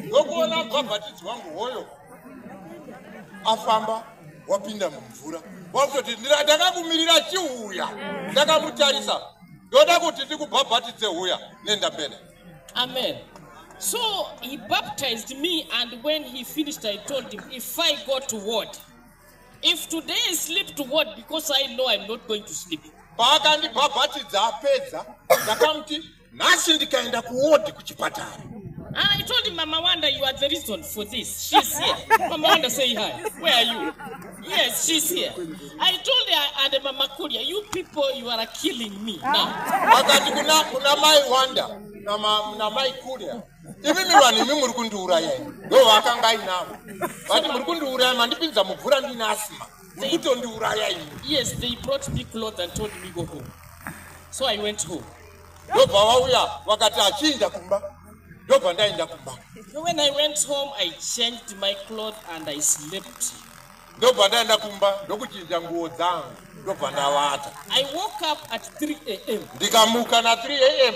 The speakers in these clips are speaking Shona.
ndokuona bhabhatidzi wangu hoyo afamba wapinda mumvura wakutoti ndakakumirira chiuya ndakamutarisa ndoda kuti ndikubhabhatidze huya nenda mbele amen so he baptized me and when he finished i told him if i go to ward if today i sleep to ward because i know i'm not going to sleep paakandibhabhatidza apedza ndakamuti nhasi ndikaenda kuwodhi kuchipatara Ah, I told him, Mama Wanda, you are the reason for this. She's here. Mama Wanda, say hi. Where are you? Yes, she's here. I told her, and Mama Kuria, you people, you are killing me now. vakati kuna kuna mai wanda na ma- na mai kuria imimi vanhu imi muri kundiuraya imi ndo vaakanga ainavo vati muri kundiuraya mandipinza mubvura ndine asima kutondiuraya ini yes they brought me clothes and told me go home so i went home ndobva wauya wakati achiinda kumba ndobva ndainda kumba when i went home i changed my cloth and i slept ndobva ndaenda kumba ndokuchinja nguo dzangu ndobva ndavata i woke up at 3 am ndikamuka na 3 am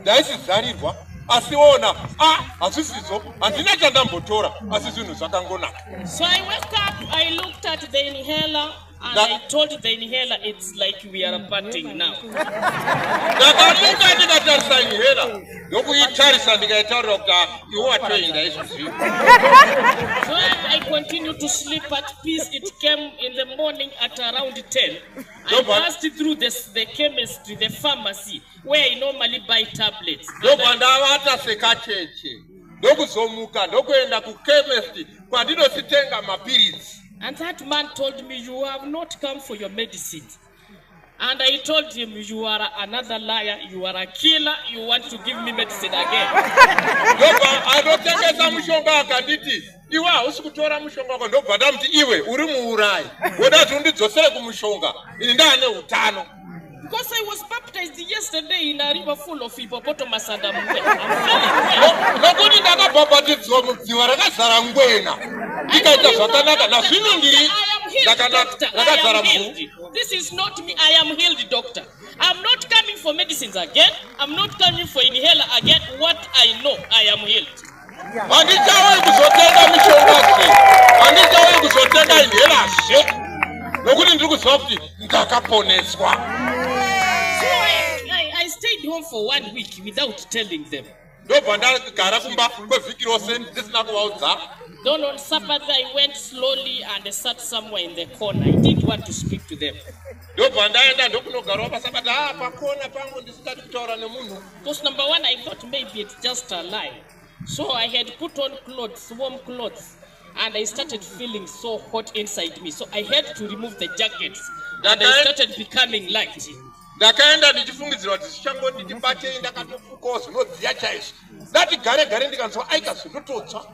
ndaisizarirwa asi ona a hazvisizo handina chandambotora asi zvinhu zvakangonaka so i wake up i looked at the inhaler and i told the inhaler it's like we are parting now ndakamuka ndikatarisa inhaler ndokuitarisa ndikaitaurira kuti ah, iwe watoenda izvozvii so i continue to sleep at peace it came in the morning at around 10 i passed through the, the chemistry the pharmacy where I normally buy tablets. Ndobva ndavata sekacheche ndokuzomuka ndokuenda kuchemist kwandinozitenga mapiritsi. And that man told me you have not come for your medicine. And I told him you are another liar, you are a killer, you want to give me medicine again. Ndobva anotengesa mushonga akanditi iwe hausi kutora mushonga wako ndobva ndamuti iwe uri muurayi woda kuti undidzosere kumushonga ini ndaane utano Because I was baptized yesterday in a river full of hippopotamus and I'm well. I'm well. nokuti ndakabhabhatidzwa mudziva rakazara ngwena ndikaita zvakanaka nazvino ndiri I am healed, ndakanaka doctor. I rakazara am mvuu healed. This is not me. I am healed, doctor. I'm not coming for medicines again. I'm not coming for inhaler again. What I know, I am healed. Handichauyi kuzotenga mishonga zve, handichauyi kuzotenga inhela zve, nokuti ndiri kuziva kuti ndakaponeswa. Ndobva ndagara kumba kwevhiki rose ndisina kuvaudza. Dawn on Sabbath, I went slowly and I sat somewhere in the corner. I didn't want to speak to them. Ndobva ndaenda ndokunogarawo paSabata, ah, pakona pangu ndisingadi kutaura nemunhu. Because number one, I thought maybe it's just a lie. So I had put on clothes, warm clothes, and I started feeling so hot inside me. So I had to remove the jackets, and I started becoming light. ndakaenda ndichifungidzirwa kuti zvichangoti ndibatei ndakatofukawo zvinodziya chaizvo ndatigare gare ndikanzwa aika zvindototsva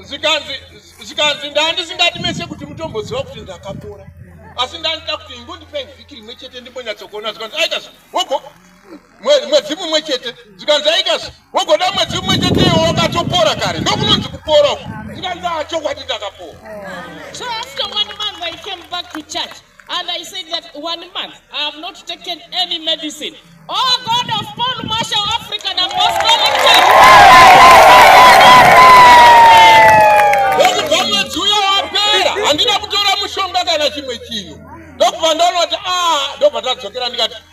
zvikanzi zvikanzi ndandisingati mese kuti mutomboziva kuti ndakapora asi ndandida kuti ingondipei vhiki rimwe chete ndimbonyatsokuona zvikanzi aikazi wogo mwedzi mumwe chete zvikanzi aikazi wogoda mwedzi mumwe chete iwo wakatopora kare ndokunonzi kupora uku zvikanzi achokwadi ndakapora so after one month i came back to church And I said that one month I have not taken any medicine. Oh God of Paul Marshall African Apostolic Church. Ndokubva mwedzi uya wapera handina kutora mushonga kana chimwe chinhu ndokubva ndaona kuti a ah, ndobva tadzokera ndikati